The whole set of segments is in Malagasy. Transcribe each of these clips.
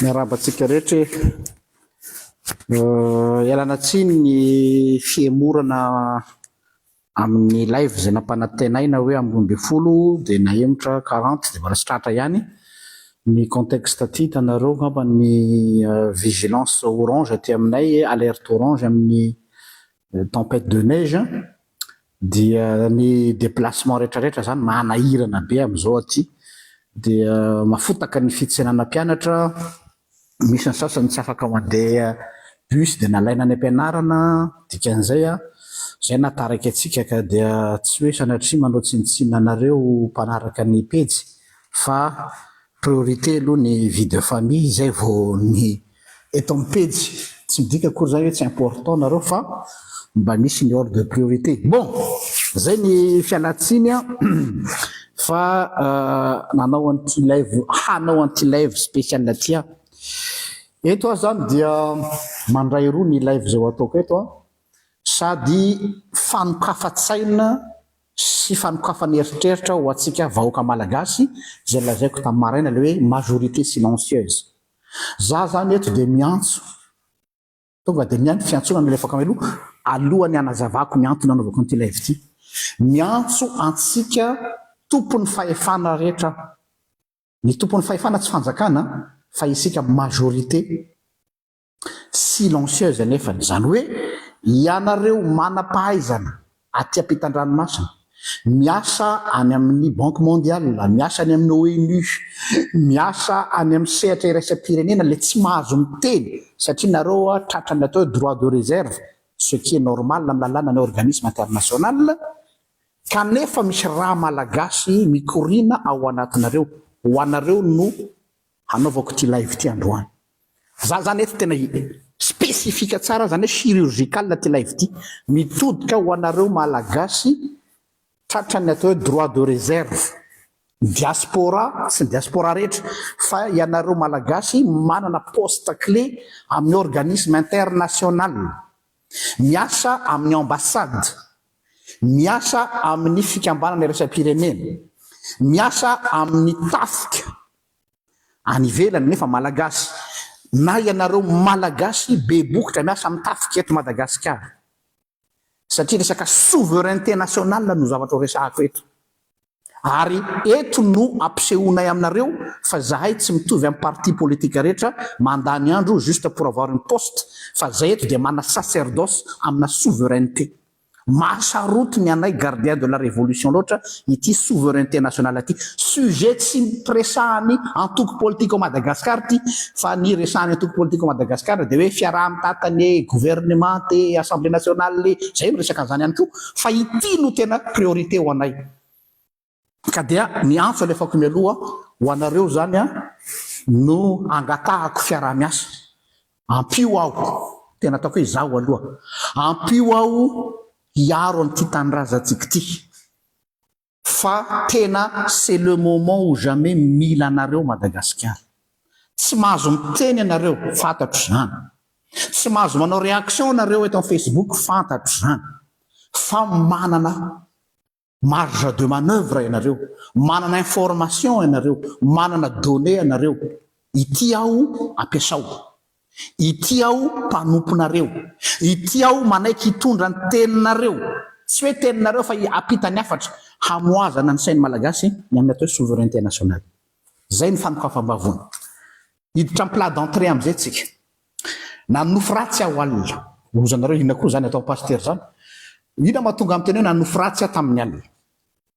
Miarahaba antsika rehetra e. Uh, ialana tsiny ny fihemorana amin'ny live izay nampanantenaina hoe amin'ny roa ambin'ny folo dia nahemotra quarante dia mbola tsy tratra ihany ny contexte aty hitanareo angamba ny vigilance orange aty aminay alerte orange amin'ny tempête de neige dia ny déplacement rehetrarehetra izany manahirana be amin'izao aty dia mafotaka ny fitsenana mpianatra Misy ny sasany tsy afaka mandeha bus dia nalaina any am-pianarana, dikan'izay an, izay no hahatarika antsika ka dia tsy hoe sanatria manao tsinontsinona anareo mpanaraka ny pejy fa priorité aloha ny vie de famille izay vao ny eto amin'ny pejy, tsy midika akory izany hoe tsy important nareo fa mba misy ny ordre de priorité. Bon! Izay ny fialan-tsiny an! Fa nanao an'ity live, hanao an'ity live spécial ity aho. Eto aho izany dia mandray roa ny live izao ataoko eto an. Sady fanokafa-tsaina sy fanokafana eritreritra ho antsika vahoaka malagasy izay lazaiko tamin'ny maraina ilay hoe majorité silencieuse. Za zany eto dia miantso. Tonga dia niaingo fiantsoana nalefako any aloha, alohan'ny hanazavako ny antony hanaovako an'ity live ity. Miantso antsika tompon'ny fahefana rehetra aho. Ny tompon'ny fahefana tsy fanjakana fa isika majorité silencieuse anefany. Izany hoe ianareo manam-pahaizana aty ampitan-dranomasina, miasa any amin'ny Banque Mondiale, miasa any amin'ny ONU, miasa any amin'ny sehatra iraisam-pirenena ilay tsy mahazo miteny satria nareo tratra ny atao hoe droit de réserve, ce qui est normal amin'ny lalàna ny organisme international, kanefa misy rà Malagasy mikoriana ao anatinareo, ho anareo no hanaovako ity live ity androany. Za zany eto tena hi specifique tsara zany hoe chirurgical ty live ty. Mitodika ho anareo Malagasy tratran'ny atao hoe droit de reserve. Diaspora sy ny diaspora rehetra fa ianareo Malagasy manana poste clé amin'ny organisme international, miasa amin'ny ambassade, miasa amin'ny fikambanana iraisam-pirenena, miasa amin'ny tafika, Any ivelany nefa malagasy na ianareo malagasy be bokotra miasa amin'ny tafika eto Madagasikara satria resaka souveraineté nationale no zavatra ho resahako eto ary eto no ampisehoanay aminareo fa zahay tsy mitovy amin'ny parti politique rehetra mandany andro juste pour avoir une poste fa zay eto dia mana sacerdoce amina souveraineté Mahasaroty ny anay gardien de la révolution loatra ity souveraineté nationale ity. Sujet tsy resahan'ny antoko politika ao Madagascar ity fa ny resahan'ny antoko politika ao Madagascar dia hoe fiaraha-mitatana e, gouvernement e, assemblée nationale e, izay no resaka an'izany ihany koa fa ity no tena priorité ho anay. Ka dia ny antso alefako mialoha ho anareo izany no angatahako fiaraha-miasa. Ampio aho, tena ataoko hoe izaho aloha, ampio aho hiaro an'ity tanindrazantsika ity fa tena c'est le moment ou jamais mila anareo Madagasikara. Tsy mahazo miteny ianareo, fantatro izany. Tsy mahazo manao réaction ianareo eto amin'ny Facebook, fantatro izany. Fa manana Marge de manoeuvre ianareo, manana information ianareo, manana données ianareo, ity aho ampiasao, ity aho mpanomponareo, ity aho manaiky hitondra ny teninareo, tsy hoe teninareo fa ampitany hafatra hamohazana ny sain'ny Malagasy ny amin'ny atao hoe souveraineté nationale. Izay ny fanokafam-bavony. Hiditra amin'ny plat d'entrée amin'izay tsika. Nanonofy ratsy aho alina. Ry zanareo inona koa izany ataon'i Pasitera izany? Inona no mahatonga miteny hoe nanonofy ratsy aho tamin'ny alina?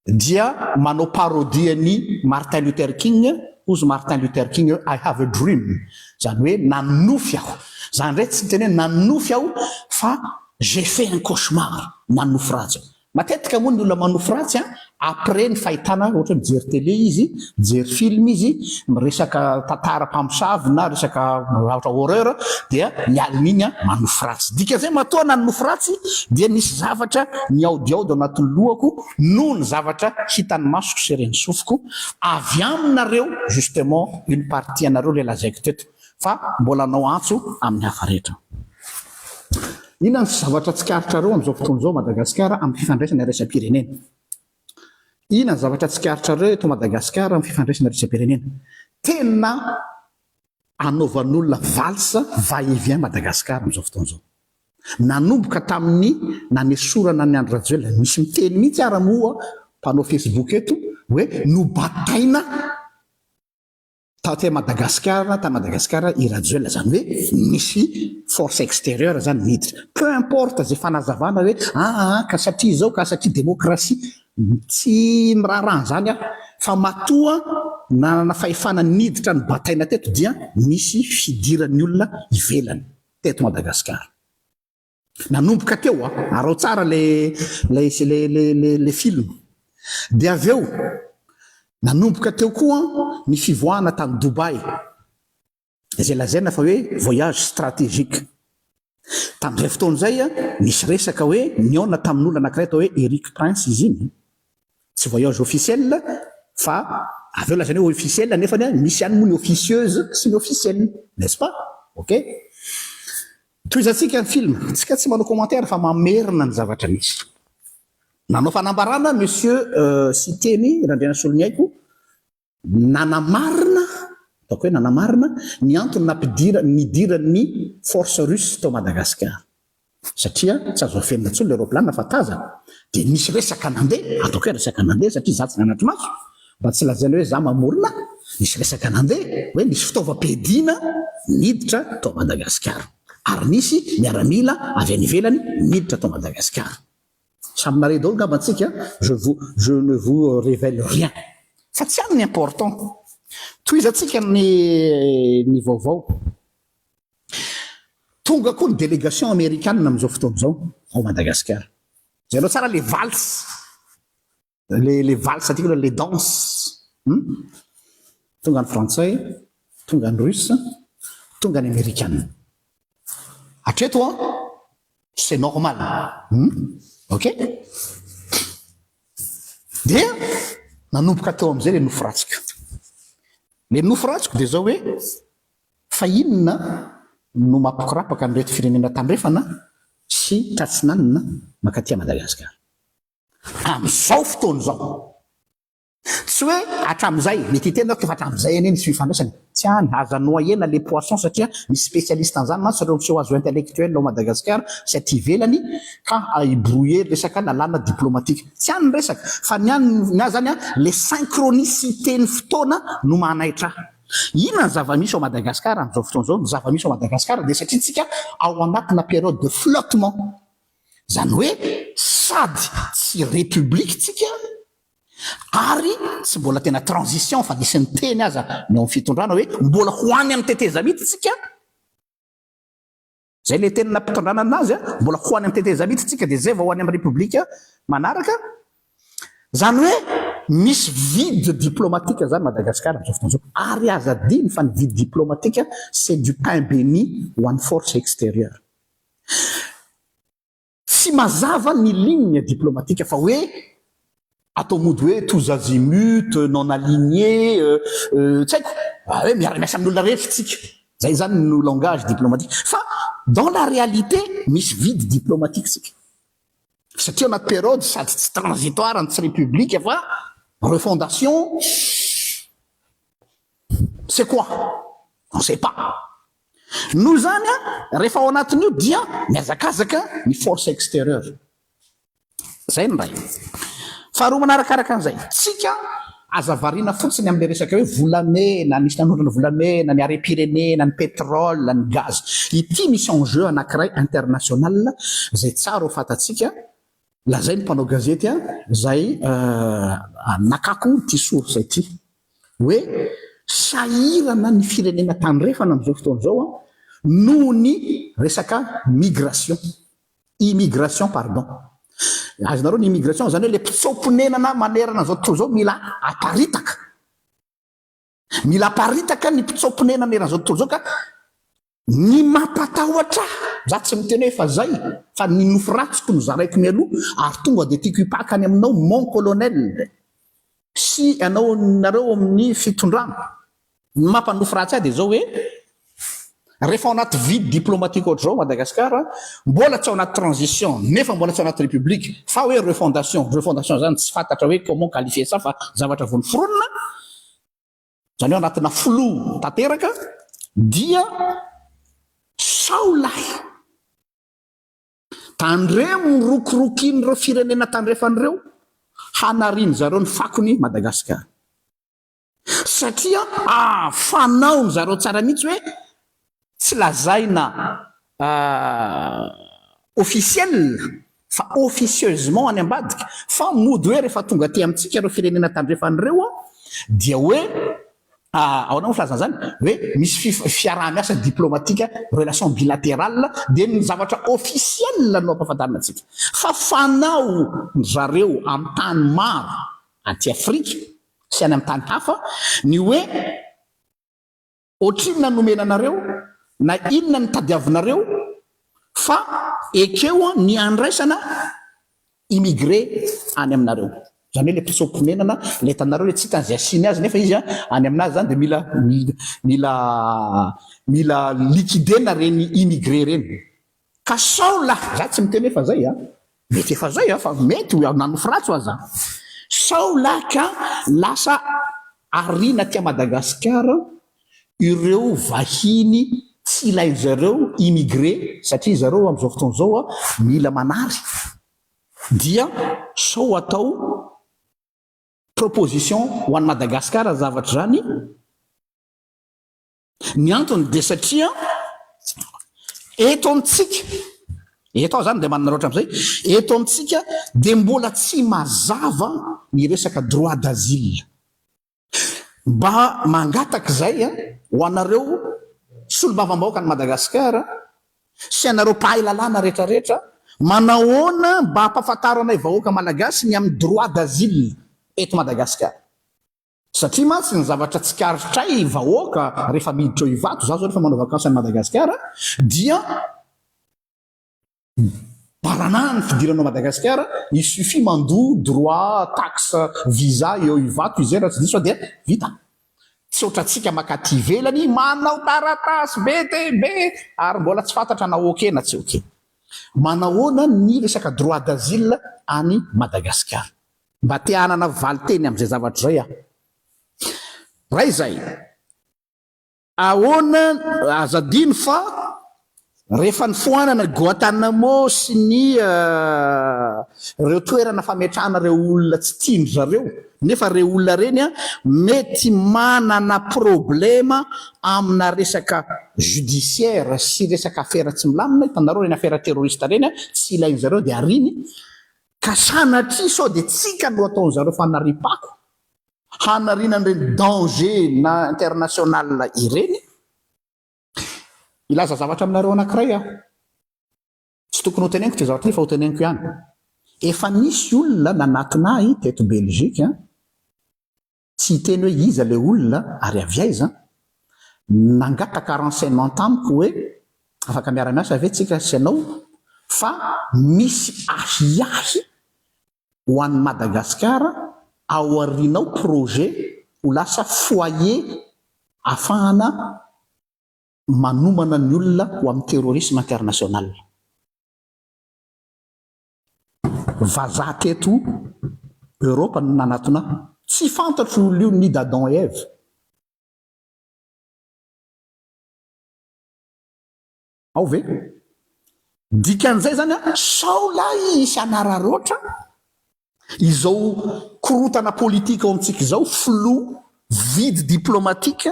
Dia manao parodie an'i Martin Luther King, hozy Martin Luther King hoe I have a dream, izany hoe nanonofy aho. Izany indray tsy niteny hoe nanonofy aho fa j'ai fait un cauchemar, nanonofy ratsy aho. Matetika moa ny olona manofy ratsy an, après ny fahitana ohatra hoe mijery télé izy, mijery film izy, miresaka tantara mpamosavy na resaka zavatra horreur dia ny alina iny an manofy ratsy. Dikan'izay matoa nanofy ratsy dia nisy zavatra nihaodihaody ao anatin'ny lohako noho ny zavatra hitan'ny masoko sy ren'ny sofiko avy aminareo justement iny partie anareo ilay lazaiko teto. fa mbola hanao antso amin'ny hafa rehetra. Inona ny zavatra tsikaritrareo amin'izao fotoana izao Madagasikara amin'ny fifandraisana iraisam-pirenena? Inona ny zavatra tsikaritrareo eto Madagasikara amin'ny fifandraisana iraisam-pirenena? Tena anaovan'olona valse va et vient Madagasikara amin'izao fotoana izao. Nanomboka tamin'ny nanesorana an'i Andry Rajoelina, misy miteny mihitsy ara moa mpanao Facebook eto hoe nobataina. Taty a Madagasikara, ta Madagasikara i Rajoelina zany hoe nisy force extérieure zany niditra. Peu importe ze fanazavana hoe aa ka satria zao ka satria démocratie, tsy miraharaha an'zany aho fa matoa nanana fahefana niditra ny bataina teto dia nisy fidiran'ny olona ivelany teto Madagasikara. Nanomboka teo a, araho tsara le le le le le le film. Dia avy eo nanomboka teo koa ny fivoahana tany Dubaï, izay lazaina fa hoe voyage stratégique. Tamin'izay fotoana izay, nisy resaka hoe nihaona tamin'olona anankiray atao hoe Eric Prince izy iny. Tsy voyage officiel fa avy eo lazaina hoe officiel nefa misy ihany moa ny officieuse sy ny officiel n'est ce pas? ok. Tohizantsika ny film, tsika tsy manao commentaire fa mamerina ny zavatra misy. Nanao fanambarana Monsieur Siteny Randrianasoloniaiko, Nanamarina, ataoko hoe nanamarina, ny antony nampidirany, nidirany ny Force Russe tao Madagasikara. Satria tsy azo afenina intsony ilay raoplanina fa tazana. Dia nisy resaka nandeha, ataoko hoe resaka nandeha satria izaho tsy nanatri-maso, mba tsy lazaina hoe izaho mamorona, nisy resaka nandeha hoe nisy fitaovam-piadiana niditra tao Madagasikara. Ary nisy miaramila avy any ivelany niditra tao Madagasikara. Samy marehy daholo ngamba antsika an! Je vous, je ne vous révèle rien fa tsy any ny important. Tohizantsika ny ny vaovao. Tonga koa ny délégation amerikana amin'izao fotoana izao ao Madagasikara. Jereo tsara le valse. le le valse aty le danse hmm? tonga ny frantsay tonga ny russe tonga ny amerikana atreto a c'est normal hmm? ok dia nanomboka teo am'izay le nofo ratsiko le nofo ratsiko de zao hoe fa inona no mapikorapaka an'ireto firenena tandrefana sy tratsinanina makaty a madagasikara amin'izao fotoana izao. Tsy hoe hatramin'izay, mety hiteny aho fa hatramin'izay anie nisy fifandraisana. Tsy any, aza noyena le poisson satria misy spécialiste an'izany mantsy ireo miseho azo intellectuel ao Madagasikara sy aty ivelany ka hi-brouiller resaka lalàna diplomatique. Tsy any ny resaka fa ny any ny ahy izany le synchronicité ny fotoana no manaitra ahy. Inona ny zava-misy ao Madagasikara amin'izao fotoana izao? Ny zava-misy ao Madagasikara dia satria tsika ao anatina période de flottement. Izany hoe sady tsy République tsika ary tsy mbola tena transition fa nisy niteny aza ny ao amin'ny fitondrana hoe mbola ho any amin'ny tetezamita tsika, izay ilay teny nampitondranana anazy a, mbola ho any amin'ny tetezamita tsika dia izay vao ho any amin'ny République manaraka. Izany hoe misy vide diplomatique izany Madagascar amin'izao fotoana izao ary aza adino fa ny vide diplomatique c'est du pain béni ho an'ny force extérieure. Tsy mazava ny ligne diplomatique fa hoe atao mody hoe tous azimuts, non aligné, tsy haiko, hoe miara miasa amin'ny olona rehetra isika, izay izany no langage diplomatique fa dans la réalité misy vide diplomatique isika satria ao anaty période sady tsy transitoire no tsy république fa refondation c'est quoi? On sait pas. Noho izany, rehefa ao anatin'io dia mihazakazaka ny force extérieure. Izay ny iray. Faharoa manarakaraka an'izay, tsika aza variana fotsiny amin'ilay resaka hoe volamena, nisy nanondrana volamena, ny harem-pirenena, ny pétrole, ny gaz. Ity misy enjeu anankiray international izay tsara ho fantatsika Lazain'ny mpanao gazety an, izay nakako ity source ity, hoe sahirana ny firenena tandrefana amin'izao fotoana izao an, noho ny resaka migration, immigration pardon. Azonareo ny immigration, izany hoe ilay mpitsoa-ponenana manerana izao tontolo izao mila aparitaka. Mila aparitaka ny mpitsoa-ponenana eran'izao tontolo izao ka ny mampatahotra ahy, za tsy miteny hoe fa zay fa ny nofy ratsiko no zaraiko mialoha ary tonga dia tiako hipaka any aminao mon colonel sy anao nareo ao amin'ny fitondrana, ny mampanofy ratsy ahy dia zao hoe Rehefa ao anaty vide diplomatique ohatr'izao Madagascar, mbola tsy ao anaty transition nefa mbola tsy ao anaty République fa hoe refondation, refondation zany tsy fantatra hoe comment qualifier ça fa zavatra vao noforonina, zany hoe anatina flou tanteraka dia sao lahy tandremo ny rokorokin'ireo firenena tandrefany ireo hanariany zareo ny fakony Madagascar. Satria fanao ry zareo tsara mihitsy hoe tsy lazaina officiel fa officieusement any ambadika fa mody hoe rehefa tonga aty amintsika ireo firenena tandrefana ireo dia hoe ahoana moa filazana izany? hoe misy fiaraha-miasa diplomatika, relation bilaterale, dia ny zavatra officiel no ampahafantarina antsika. Fa fanao ry zareo amin'ny tany maro aty Afrika sy any amin'ny tany hafa ny hoe ohatrinona ny nomena anareo na inona no tadiavinareo fa ekeo ny handraisana immigré any aminareo. Izany hoe ilay mpitsoa-ponenana ilay hitanareo ilay tsy hitany izay asiany azy nefa izy any aminazy izany dia mila mila mila liquider-na ireny immigré ireny. Ka sao lafy-dratsy tsy miteny hoe fa zay a! Mety efa zay a! Fa mety ho nanofy ratsy ho aza! Sao lahy ka lasa ariana aty Madagasikara ireo vahiny tsy ilain-dry zareo immigré satria zareo amin'izao fotoana izao a, mila manary dia sao atao proposition ho an'i Madagasikara zavatra izany. Ny antony dia satria eto amintsika, eto aho zany dia manana loatra amin'izay, eto amintsika dia mbola tsy mazava ny resaka droit d'asile. Mba mangataka izay ho anareo solombavambahoaka an'i Madagasikara sy anareo mpahay lalàna rehetrarehetra, manahoana mba hampafantaranay vahoaka malagasy ny amin'ny droit d'asile eto Madagasikara? Satria mantsy ny zavatra tsikaritray vahoaka rehefa miditra ao Ivato, za zao rehefa manao vakansy any Madagasikara dia baranahany ny fidirana ao Madagasikara, il suffit mandoa droit, taxe, visa eo Ivato izay raha tsy diso aho dia vita. Tsy ohatrantsika makaty ivelany manao taratasy be dia be ary mbola tsy fantatra na ok na tsy ok. Manahoana ny resaka droit d'asile any Madagasikara? Mba te hanana valin-teny amin'izay zavatra izay aho. Raha izay, ahoana, aza adino fa rehefa nifoanana Guantanamo sy ny ireo toerana fametrahana ireo olona tsy tian-dry zareo, nefa ireny olona ireny mety manana problema amina resaka judiciaire sy resaka afera tsy milamina, hitanareo ireny afera terroriste ireny, tsy ilain-dry zareo dia ariany, Ka sanatria sao dia tsika no ataon zareo fanariam-pako hanariana an'ireny danger na international ireny? Hilaza zavatra aminareo anankiray aho. Tsy tokony ho teneniko ity zavatra ity fa ho teneniko ihany. Efa nisy olona nanatona ahy teto Belgique, tsy hiteny hoe iza ilay olona ary avy aiza, nangataka renseignement tamiko hoe afaka miara-miasa ve tsika sy ianao fa misy ahiahy ho an'i Madagasikara ao aorianao projet ho lasa foyer afahana manomana ny olona ho amin'ny terrorisme international. Vazaha teto Europe no nanatona ahy. Tsy fantatro io olona io ni d'Adam et Eve. Ao ve? Dikan'izay izany an, sao lahy hisy hanararoatra izao korotana politika ao amintsika izao, flou, vide diplomatique,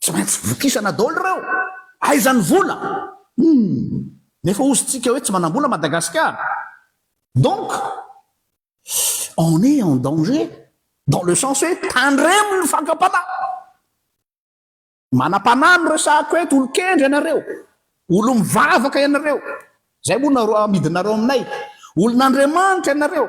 Tsy maintsy vokisana daholo ireo. Aiza ny vola? Humm! Nefa hozy tsika hoe tsy manambola Madagasikara. Donc, on est en danger dans le sens hoe tandremo ny fakam-panahy. Manam-panahy no resahako eto, olon-kendry ianareo, olom-bavaka ianareo, izay moa no amidinareo aminay, olon'Andriamanitra ianareo.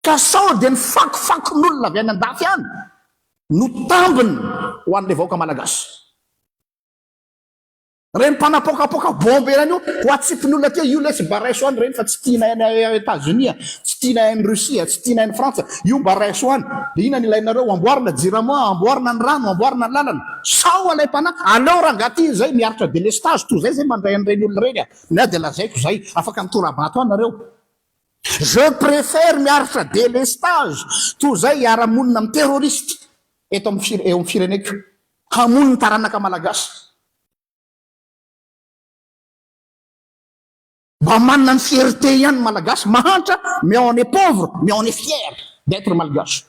Ka sao dia ny fakofakon'olona avy any andafy any no tambiny ho an'ilay vahoaka malagasy. Ireny mpanapoakapoaka bombe ireny io ho atsipin'olona aty io lesy mba raiso any ireny fa tsy tianay any Etazonia, tsy tianay any Russie, tsy tianay any Frantsa, io mba raiso any. Dia inona no ilainareo? Amboarina jirama, amboarina ny rano, amboarina ny lalana. Sao ilay mpanahy, aleo rangah aty izay miaritra delestazy toa izay izay mandray an'ireny olona ireny a! Ny ahy dia lazaiko izay, afaka mitorabato any nareo. Je préfère miaritra délestage toy izay hiara-monina amin'ny terroristes eto amin'ny fire, eo amin'ny fireneko, hamono ny taranaka malagasy. Mba manana ny fierté ihany ny malagasy mahantra mais on est pauvre mais on est fier d'être malgache.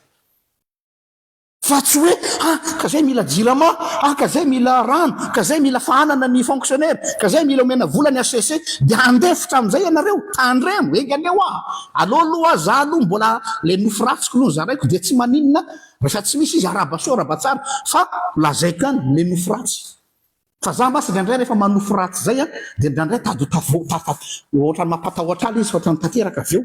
Fa tsy hoe, ha, ka izay mila jirama, ha, ka izay mila rano, ka izay mila fahanana ny fonctionnaire, ka izay mila omena vola ny HCC, dia handefitra amin'izay ianareo? Tandremo, enga aleo a! Aleo aloha aho, za aloha mbola ilay nofy ratsiko aloha nozaraiko dia tsy maninona rehefa tsy misy izy, araba soa araba tsara, fa lazaiko ihany ilay nofy ratsy. Fa za mantsy indraindray rehefa manofy ratsy izay an, dia indraindray tady ho tavo, ta, ta, ohatran'ny mampatahotra ahy ilay izy, fa ohatran'ny tanteraka avy eo.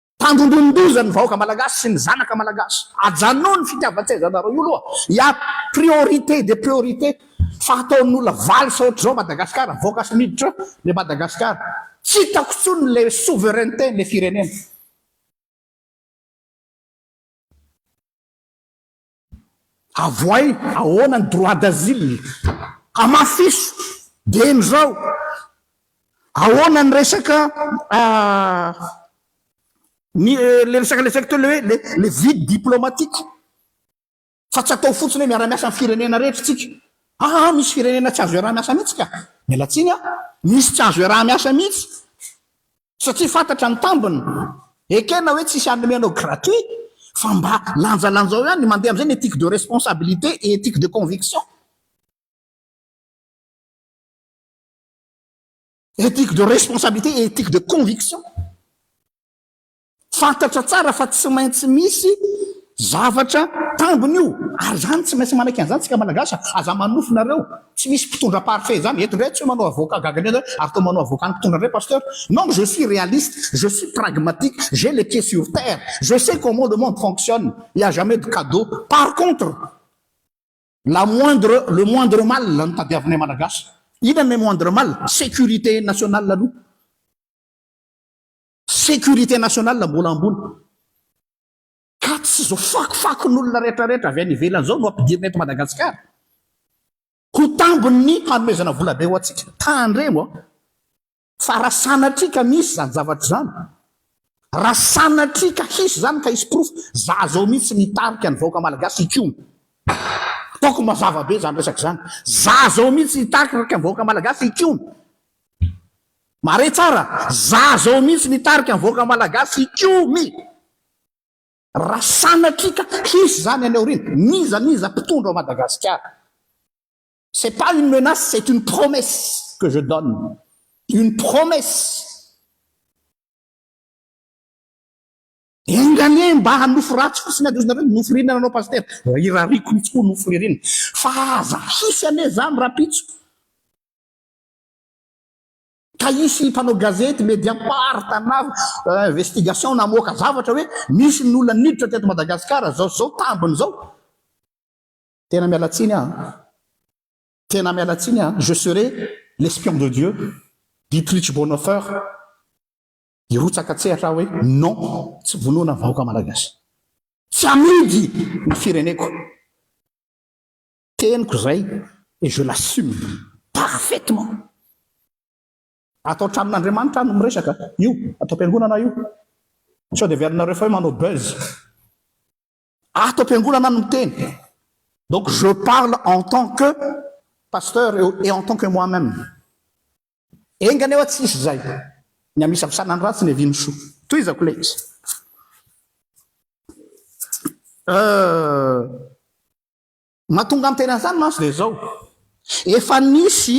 Tandindonin-doza ny vahoaka malagasy sy ny zanaka malagasy. Ajanony ny fitiavan-tsezanareo io loha. Ya priorité des priorités fa ataon'olona valo sa ohatr'izao Madagascar avoaka sy miditra le Madagascar. Tsy hitako intsony le souveraineté le firenena. Avohay ahoana ny droit d'asile? Hamafiso dieny izao. Ahoana ny resaka ny le resaka le resaka teo le hoe le vide diplomatique fa tsy atao fotsiny hoe miara-miasa amin'ny firenena rehetra isika. Aa misy firenena tsy azo iaraha-miasa mihitsy ka. Miala tsiny a. Misy tsy azo iaraha-miasa mihitsy. Satria fantatra ny tambiny. Ekena hoe tsisy hanome anao gratuit fa mba lanjalanjao ihany, mandeha amin'izay ny ethique de responsabilité et ethique de conviction. Ethique de responsabilité et ethique de conviction. Fantatra tsara fa tsy maintsy misy zavatra tambiny io ary izany tsy maintsy manaiky an'izany isika Malagasy a! Aza manofy nareo, tsy misy mpitondra parfait izany, eto indray tsy hoe manao avocat gaga indray zay ary toa manao avocat ny mpitondra indray Pasteur, non je suis réaliste, je suis pragmatique, j'ai les pieds sur terre, je sais comment le monde fonctionne, il n'y a jamais de cadeau, par contre la moindre le moindre mal no tadiavinay Malagasy, inona le moindre mal? Sécurité nationale aloha. Sécurité nationale mbola ambony. Ka tsy izao fakofakon'olona rehetra rehetra avy any ivelany izao no ampidirina eto Madagasikara ho tambin'ny hanomezana vola be ho antsika. Tandremo an! Fa raha sanatria ka misy izany zavatra izany, raha sanatria ka hisy izany ka hisy porofo, za izao mihitsy no hitarika ny vahoaka malagasy hikomy. Ataoko mazava be izany resaka izany. Za izao mihitsy hitarika ny vahoaka malagasy hikomy. Mare tsara, za zao mihitsy mitarika ny vahoaka malagasy hikomy ra sanatria ka hisy zany any aoriana, n'iza n'iza mpitondra ao Madagasikara. C'est pas une menace, c'est une promesse que je donne, une promesse. Enga anie mba hanofy ratsy fotsiny ady ozy nareo ny nofy ririnana anao Pasitera, irariako mihitsy koa nofy ririnina, fa aza hisy anie zany rapitso. Ka hisy mpanao gazety, mediapart na investigation na hamoaka zavatra hoe nisy ny olona niditra teto Madagasikara zao sy zao tambiny zao. Tena miala tsiny aho an. Tena miala tsiny aho an. Je serai l'espion de Dieu, Dietrich Bonhoeffer. Hirotsaka an-tsehatra aho hoe non, tsy vonoina ny vahoaka Malagasy. Tsy amidy ny fireneko. Teniko izay et je l'assume parfaitement. Atao tramin'Andriamanitra no miresaka, io ato am-piangonana io. Sao dia averinareo fa hoe manao buzz. Ato am-piangonana no miteny. Donc je parle en tant que pasteur et en tant que moi-même. Enga anie hoa tsy hisy izay. Ny amisavsana ny ratsy, ny avia ny soa. Tohizako ilay izy. Euh. Mahatonga ny tena izany mantsy dia izao, efa nisy,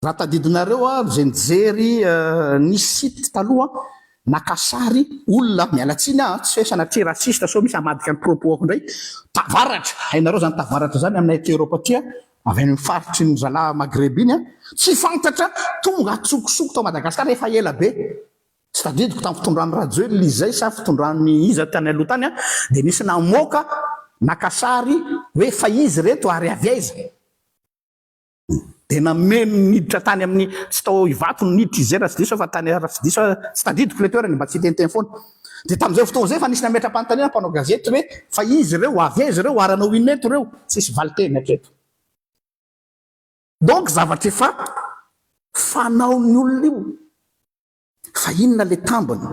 raha tadidinareo ary izay nijery ny site taloha, naka sary olona, miala tsiny aho tsy hoe sanatria raciste sao misy hamadika ny propos-ako indray, tavaratra, hainareo izany tavaratra izany aminay aty Europe aty a, avy any amin'ny faritry ny zalahy Maghreb iny a, tsy fantatra, tonga an-tsokosoko tao Madagasikara efa ela be. Tsy tadidiko tamin'ny fitondran'i Rajoelina izay sa fitondran'ny iza tany aloha tany an, dia nisy namoaka naka sary hoe fa izy ireto ary avy aiza? dia nameno niditra tany amin'ny, tsy tao Ivato no niditra izy izay raha tsy diso aho fa tany raha tsy diso aho, tsy tadidiko ilay toerana e, mba tsy hiteniteny foana. Dia tamin'izay fotoana izay efa nisy nametra-panontaniana mpanao gazety hoe fa izy ireo, avy aiza ireo ary hanao inona eto ireo? Tsisy valin-teny hatreto. Donc zavatra efa fanaon'ny olona io. Fa inona le tambiny?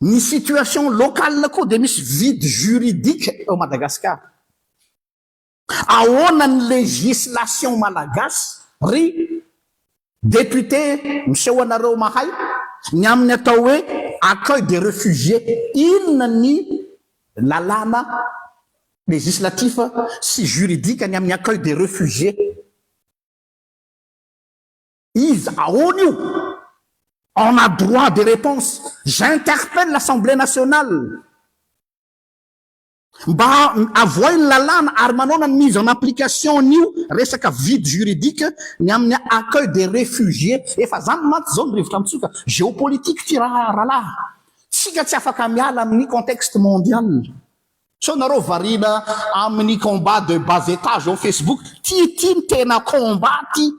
Ny situation local koa dia misy vide juridique ao Madagascar. Ahoana ny législation malagasy ry député miseho anareo mahay ny amin'ny atao hoe accueil des refugiés? Inona ny lalàna législatif sy juridique ny amin'ny accueil des refugiés? Iza? Ahoana io? On a droit de reponse. J'interpelle l'Assemblée nationale mba avohay ny lalàna ary manaona ny mise en application an'io resaka vide juridique ny amin'ny accueil des réfugiés. Efa izany mantsy izao ny rivotra mitsoka. Géopolitique ity rahalahy. Isika tsy afaka miala amin'ny contexte mondial. Sao nareo variana amin'ny combat de bas etage ao Facebook? Ty ty no tena combat ty,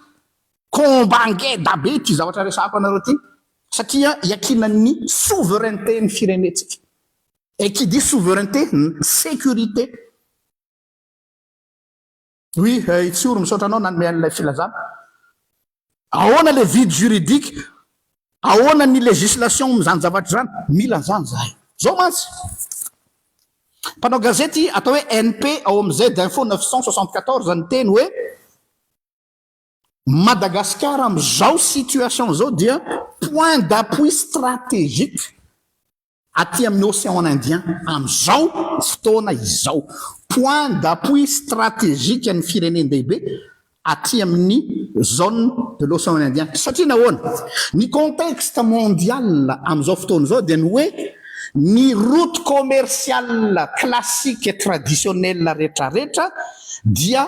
combat ngeda be ity zavatra resahako anareo ty satria iakinan'ny souveraineté ny firenentsika et qui dit souveraineté, sécurité. Oui, eh, Tsioro, misaotra anao nanome an'ilay filazana. Ahoana le vide juridique? Ahoana ny législation amin'izany zavatra izany? Mila an'izany zahay. Zao mantsy. Mpanao gazety atao hoe NP ao amin'ny Z Info 974 niteny hoe Madagasikara amin'izao situation izao dia point d'appui stratégique. aty amin'ny Océan Indien amin'izao fotoana izao, point d'appui stratégique ny firenen-dehibe aty amin'ny zone de l'Océan Indien, satria nahoana? ny contexte mondial amin'izao fotoana izao dia ny hoe ny route commerciale classique et traditionnelle retraretra dia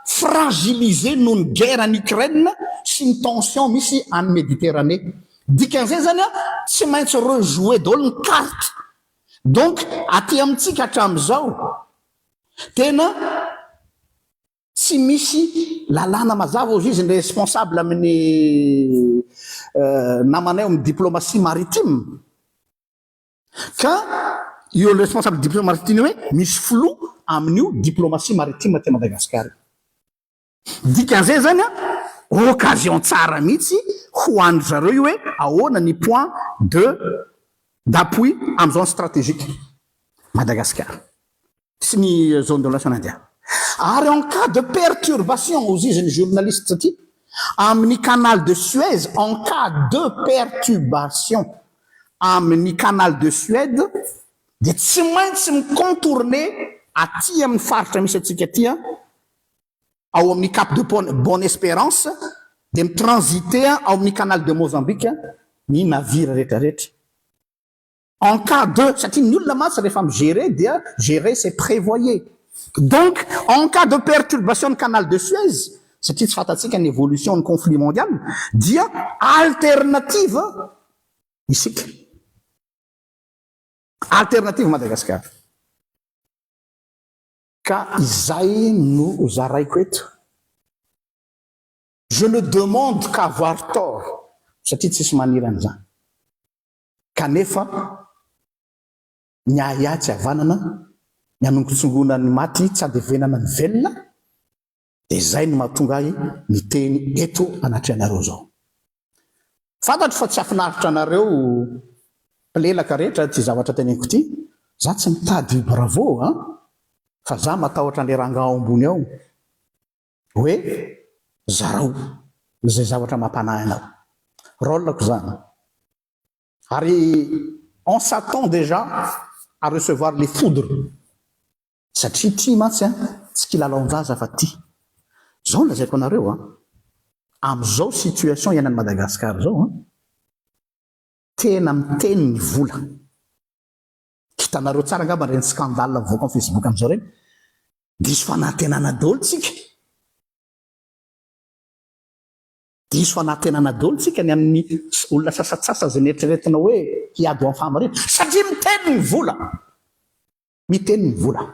fragiliser noho ny guerre any Ukraine sy ny tension misy any Méditerranée. Dikan'izay zany a tsy maintsy rejouer daholo ny carte donc aty amintsika hatramizao tena tsy misy lalàna mazava hozy izy ny responsable amin'ny namanay ao amin'ny diplomatie maritime ka eo ny responsable diplomatie maritime hoe misy filoha amin'io diplomatie maritime aty Madagasikara io. Ny dikan'izay zany an, occasion tsara mihitsy ho an-dry zareo io hoe ahoana ny point de d'appui amin'ny zone stratégique Madagasikara sy ny zone de l'Ocean Indien. Ary en cas de perturbation, hozizy ny journaliste aty, amin'ny canal de Suez, en cas de pertubation amin'ny canal de Suède dia tsy maintsy mi-contourner aty amin'ny faritra misy antsika aty an, ao amin'ny Cap de Bonne Esperance dia mi-transiter ao amin'ny Canal de Mozambique ny navire rehetrarehetra. En cas de, satria ny olona mantsy rehefa mi-gerer dia gerer c'est prevoyez. Donc en cas de perturbation ny Canal de Suez, satria tsy fantatsika ny evolution ny conflit mondial, dia alternative isika. Alternative Madagasikara. Ka izay no zaraiko eto. Je ne demande qu' avoir tort satria tsisy maniry an'izany. Kanefa ny ahiahy tsy havanana, ny hanongotsongoana ny maty tsy handevenana ny velona, Dia izay no mahatonga ahy miteny eto anatrehanareo izao. Fantatro fa tsy hafinaritra anareo mpilelaka rehetra ity zavatra teneniko ity, za tsy mitady bravo a! fa za matahotra an'le rangah ao ambony ao hoe zarao izay zavatra mampanahy anao. Rôle-ko izany. Ary on s'attend déjà à recevoir les foudres. Satria ity mantsy an, tsy kilalaon-jaza fa ty. Zao no lazaiko anareo an, amzao situation iainan'i Madagascar zao an, tena miteny ny vola. Hitanareo tsara angamba reny scandale mivoaka am facebook amzao reny, diso fanantenana dolo tsika. Diso fanantenana dolo tsika ny amin'ny olona sasatsasany zay neritreretina hoe hiady ho am fahamariana. Satria miteny ny vola. Miteny ny vola.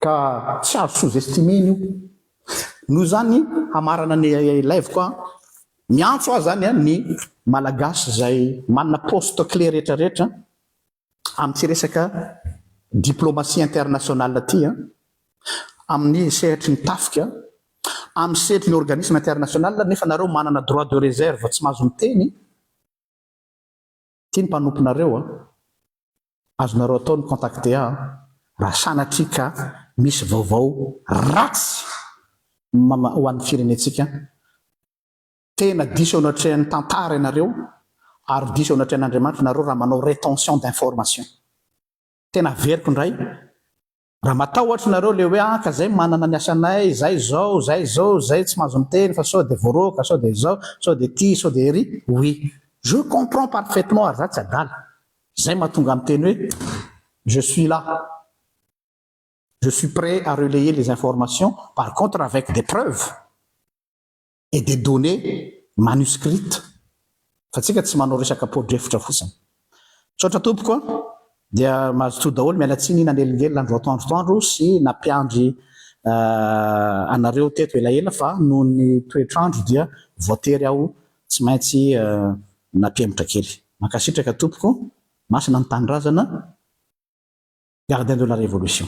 Ka tsy azo sous-estimer-na io. Noho izany, hamarana ny ilaiviko an, miantso ahy izany an ny Malagasy izay manana poste clé rehetrarehetra amin'ity resaka diplomatie internationale ity an, amin'ny sehatry ny tafika, amin'ny sehatry ny organisme international nefa nareo manana droit de réserve tsy mahazo miteny, Ity ny mpanomponareo a! Azonareo atao ny contacter ahy raha sanatria ka misy vaovao ratsy ho an'ny firenentsika. Tena diso eo anatrehan'ny tantara ianareo ary diso eo anatrehan'Andriamanitra ianareo raha manao retention d'information. Tena averiko indray Raha matahotra nareo le hoe ah ka zay manana ny asanay, zay zao, zay zao, zay tsy mahazo miteny fa sao de voaroaka, sao de izao, sao de ity, sao de ery, oui je comprends parfaitement ary za tsy adala, zay mahatonga ahy miteny hoe je suis là, je suis prêt à relayer les informations par contre avec des preuves. et des données manuscrites fa tsika tsy manao resaka podrefitra fotsiny. Misaotra tompoko a! Dia mazotoa daholo, miala tsiny nanelingelina andro atoandro toandro sy nampiandry anareo teto elaela fa noho ny toetrandro dia voatery aho tsy maintsy nampihemotra kely. Mankasitraka tompoko, masina ny tanindrazana, gardien de la révolution.